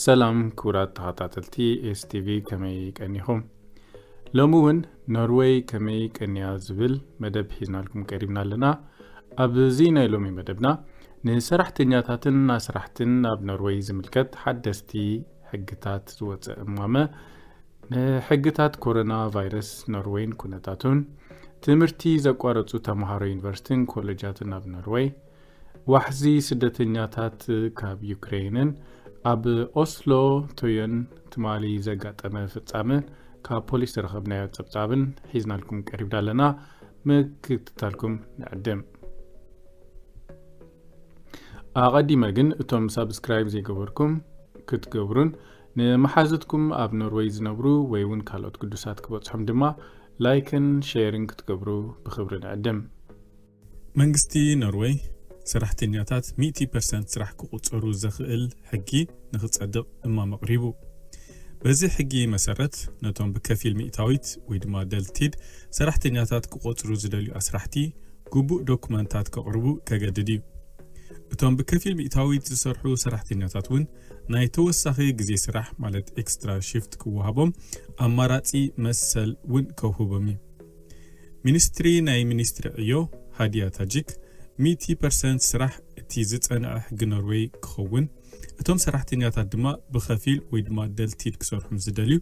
ሰላም ክቡራት ተኸታተልቲ ኤስቲቪ ከመይ ቀኒኹም? ሎሚ እውን ኖርወይ ከመይ ቀንያ ዝብል መደብ ሒዝናልኩም ቀሪብና ኣለና ኣብዚ ናይ ሎሚ መደብና ንሰራሕተኛታትን ኣስራሕትን ኣብ ኖርወይ ዝምልከት ሓደስቲ ሕግታት ዝወፀ እማመ ንሕግታት ኮሮና ቫይረስ ኖርወይን ኩነታቱን፣ ትምህርቲ ዘቋረጹ ተመሃሮ ዩኒቨርሲቲን ኮለጃትን ኣብ ኖርወይ፣ ዋሕዚ ስደተኛታት ካብ ዩክረይንን ኣብ ኦስሎ ቶዮን ትማሊ ዘጋጠመ ፍጻመ ካብ ፖሊስ ዝረኸብናዮ ጸብጻብን ሒዝናልኩም ቀሪብና ኣለና። ምክትታልኩም ንዕድም። ኣቐዲመ ግን እቶም ሳብስክራይብ ዘይገበርኩም ክትገብሩን ንመሓዙትኩም ኣብ ኖርወይ ዝነብሩ ወይ ውን ካልኦት ግዱሳት ክበጽሑም ድማ ላይክን ሼርን ክትገብሩ ብኽብሪ ንዕድም። መንግስቲ ኖርወይ ሰራሕተኛታት ሚእቲ ፐርሰንት ስራሕ ክቑጸሩ ዘኽእል ሕጊ ንኽጸድቕ እማመ ኣቕሪቡ። በዚ ሕጊ መሰረት ነቶም ብከፊል ሚእታዊት ወይ ድማ ደልቲድ ሰራሕተኛታት ክቖጽሩ ዝደልዩ ኣስራሕቲ ግቡእ ዶኩመንታት ከቕርቡ ከገድድ እዩ። እቶም ብከፊል ሚእታዊት ዝሰርሑ ሰራሕተኛታት ውን፣ ናይ ተወሳኺ ግዜ ስራሕ ማለት ኤክስትራ ሽፍት ክወሃቦም ኣማራጺ መሰል ውን ከውህቦም እዩ። ሚኒስትሪ ናይ ሚኒስትሪ ዕዮ ሃዲያ ታጂክ ሚእቲ ፐርሰንት ስራሕ እቲ ዝጸንዐ ሕጊ ኖርወይ ክኸውን፣ እቶም ሰራሕተኛታት ድማ ብኸፊል ወይ ድማ ደልቲድ ክሰርሑ ምስ ዝደልዩ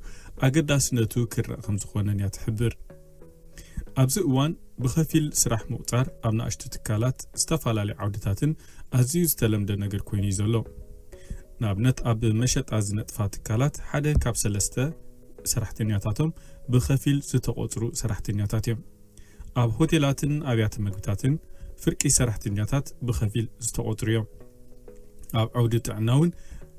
ኣገዳስነቱ ክርእ ከምዝኾነን እያ ትሕብር። ኣብዚ እዋን ብኸፊል ስራሕ ምቑፃር ኣብ ናእሽቱ ትካላት ዝተፈላለዩ ዓውድታትን ኣዝዩ ዝተለምደ ነገር ኮይኑ እዩ ዘሎ። ንኣብነት ኣብ መሸጣ ዝነጥፋ ትካላት ሓደ ካብ ሰለስተ ሰራሕተኛታቶም ብኸፊል ዝተቖፅሩ ሰራሕተኛታት እዮም። ኣብ ሆቴላትን ኣብያተ መግብታትን ፍርቂ ሰራሕተኛታት ብኸፊል ዝተቖፅሩ እዮም። ኣብ ዓውዲ ጥዕና እውን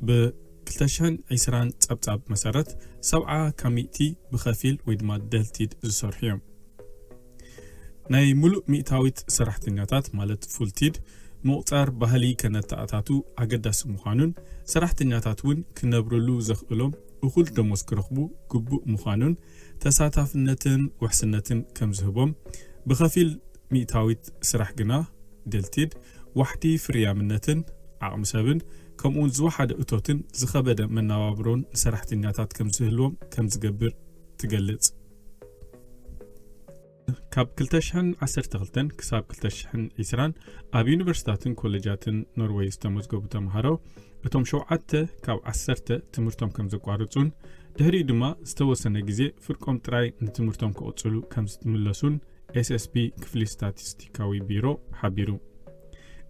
ብ ክልተ ሽሕን ዕስራን ጸብጻብ መሰረት፣ ሰብዓ ካብ ሚእቲ ብኸፊል ወይ ድማ ደልቲድ ዝሰርሑ እዮም። ናይ ምሉእ ሚእታዊት ሰራሕተኛታት ማለት ፉልቲድ ምቑጻር ባህሊ ከነተኣታቱ ኣገዳሲ ምዃኑን ሰራሕተኛታት እውን ክነብርሉ ዘኽእሎም እኹል ደሞዝ ክረኽቡ ግቡእ ምዃኑን ተሳታፍነትን ውሕስነትን ከም ዝህቦም ብኸፊል ሚእታዊት ስራሕ ግና ድልቲድ ዋሕዲ ፍርያምነትን ዓቕሚ ሰብን ከምኡውን ዝወሓደ እቶትን ዝኸበደ መነባብሮን ንሰራሕተኛታት ከም ዝህልዎም ከም ዝገብር ትገልጽ። ካብ ክልተ ሽሕን ዓሰርተ ክልተን ክሳብ ክልተ ሽሕን ዒስራን ኣብ ዩኒቨርሲታትን ኮለጃትን ኖርወይ ዝተመዝገቡ ተምሃሮ እቶም ሸውዓተ ካብ ዓሰርተ ትምህርቶም ከም ዘቋርጹን ድሕሪኡ ድማ ዝተወሰነ ግዜ ፍርቆም ጥራይ ንትምህርቶም ክቕጽሉ ከም ዝምለሱን ኤስኤስፒ ክፍሊ ስታቲስቲካዊ ቢሮ ሓቢሩ።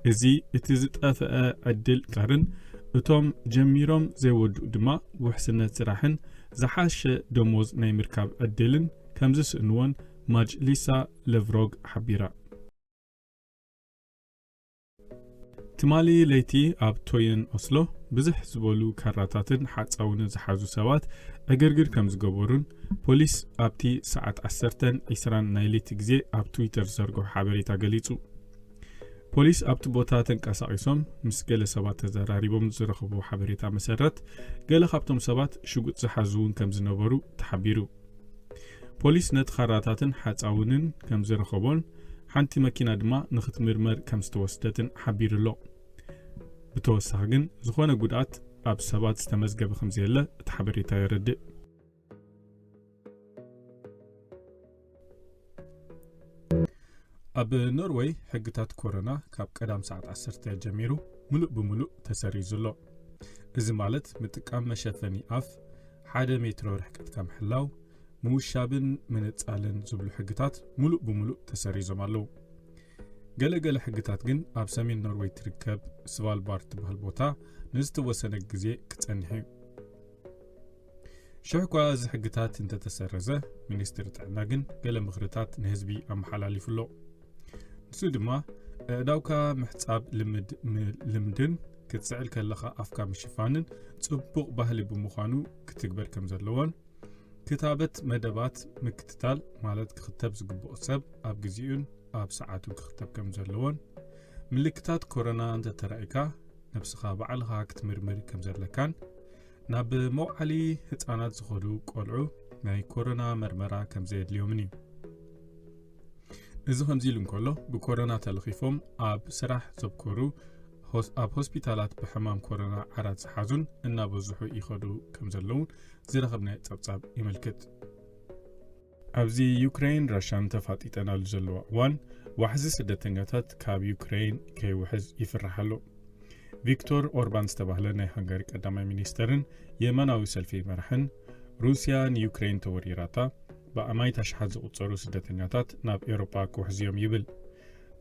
እዚ እቲ ዝጠፍአ ዕድል ቀርን እቶም ጀሚሮም ዘይወድኡ ድማ ውሕስነት ስራሕን ዝሓሸ ደሞዝ ናይ ምርካብ ዕድልን ከምዝስእንዎን ማጅሊሳ ለቭሮግ ሓቢራ። ትማሊ ለይቲ ኣብ ቶየን ኦስሎ ብዝሕ ዝበሉ ካራታትን ሓፃውንን ዝሓዙ ሰባት ዕግርግር ከም ዝገበሩን ፖሊስ ኣብቲ ሰዓት 10:20 ናይ ለይቲ ግዜ ኣብ ትዊተር ዝዘርግሖ ሓበሬታ ገሊጹ። ፖሊስ ኣብቲ ቦታ ተንቀሳቒሶም ምስ ገለ ሰባት ተዘራሪቦም ዝረኽቡ ሓበሬታ መሰረት ገለ ካብቶም ሰባት ሽጉጥ ዝሓዙ እውን ከም ዝነበሩ ተሓቢሩ ፖሊስ ነቲ ካራታትን ሓጻውንን ከም ዝረኸቦን ሓንቲ መኪና ድማ ንኽትምርመር ከም ዝተወስደትን ሓቢሩ'ሎ። ብተወሳኺ ግን ዝኾነ ጉድኣት ኣብ ሰባት ዝተመዝገበ ከም ዘየለ እቲ ሓበሬታ የረድእ። ኣብ ኖርወይ ሕግታት ኮሮና ካብ ቀዳም ሰዓት ዓሰርተ ጀሚሩ ምሉእ ብምሉእ ተሰሪዙ ኣሎ። እዚ ማለት ምጥቃም መሸፈኒ ኣፍ፣ ሓደ ሜትሮ ርሕቀትካ ምሕላው፣ ምውሻብን ምንጻልን ዝብሉ ሕግታት ምሉእ ብምሉእ ተሰሪዞም ኣለዉ። ገለ ገለ ሕግታት ግን ኣብ ሰሜን ኖርወይ ትርከብ ስቫልባርድ ትበሃል ቦታ ንዝተወሰነ ግዜ ክጸንሕ እዩ። ሽሕ እኳ እዚ ሕግታት እንተተሰረዘ፣ ሚኒስትሪ ጥዕና ግን ገለ ምኽርታት ንህዝቢ ኣመሓላሊፉ ኣሎ። ንሱ ድማ ኣእዳውካ ምሕጻብ ልምድ ልምድን ክትስዕል ከለኻ ኣፍካ ምሽፋንን ጽቡቕ ባህሊ ብምዃኑ ክትግበር ከም ዘለዎን ክታበት መደባት ምክትታል ማለት ክኽተብ ዝግብኦ ሰብ ኣብ ግዜኡን ኣብ ሰዓቱን ክኽተብ ከም ዘለዎን ምልክታት ኮሮና እንተተራእካ ነብስኻ ባዕልኻ ክትምርምር ከም ዘለካን ናብ መውዓሊ ህፃናት ዝኾዱ ቆልዑ ናይ ኮሮና መርመራ ከም ዘየድልዮምን እዩ እዚ ከምዚ ኢሉ እንከሎ ብኮሮና ተለኺፎም ኣብ ስራሕ ዘብኮሩ ኣብ ሆስፒታላት ብሕማም ኮሮና ዓራት ዝሓዙን እናበዝሑ ይኸዱ ከም ዘለውን ዝረኸብናዮ ጸብጻብ የመልክት ኣብዚ ዩክሬን ራሻን ተፋጢጠናሉ ዘለዋ እዋን ዋሕዚ ስደተኛታት ካብ ዩክሬን ከይውሕዝ ይፍራሕ ኣሎ ቪክቶር ኦርባን ዝተባህለ ናይ ሃንጋሪ ቀዳማይ ሚኒስተርን የመናዊ ሰልፊ መራሕን ሩስያ ንዩክሬን ተወሪራታ ብኣማኢት ኣሽሓት ዝቑጸሩ ስደተኛታት ናብ ኤውሮጳ ክውሕዙ'ዮም ይብል።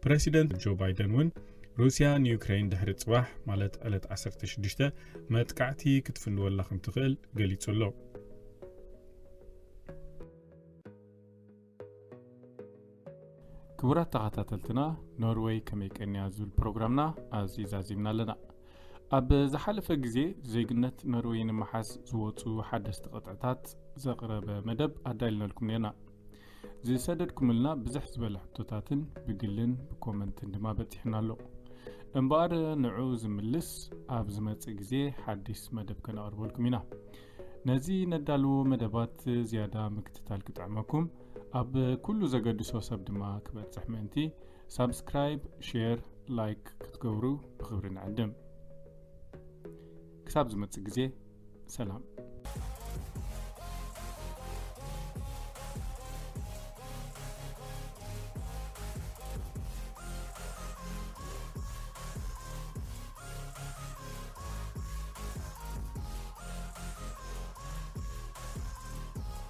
ፕረሲደንት ጆ ባይደን እውን ሩስያ ንዩክረይን ድሕሪ ጽባሕ ማለት ዕለት ዓሰርተ ሽዱሽተ መጥቃዕቲ ክትፍንወላ ከምትኽእል ገሊጹ ኣሎ። ክቡራት ተኸታተልትና ኖርወይ ከመይ ቀንያ ዝብል ፕሮግራምና ኣብዚ ዛዚምና ኣለና ኣብ ዝሓለፈ ግዜ ዜግነት ኖርወይ ንምሓዝ ዝወፁ ሓደስቲ ቅጥዕታት ዘቕረበ መደብ ኣዳልነልኩም ነርና ዝሰደድኩምልና ብዝሕ ዝበለ ሕቶታትን ብግልን ብኮመንትን ድማ በፂሕና ኣሎ እምበኣር ንዑ ዝምልስ ኣብ ዝመፅእ ግዜ ሓድስ መደብ ከነቕርበልኩም ኢና ነዚ ነዳልዎ መደባት ዝያዳ ምክትታል ክጥዕመኩም ኣብ ኩሉ ዘገድሶ ሰብ ድማ ክበጽሕ ምእንቲ ሳብስክራይብ ሼር ላይክ ክትገብሩ ብክብሪ ንዕድም ክሳብ ዝመጽእ ግዜ ሰላም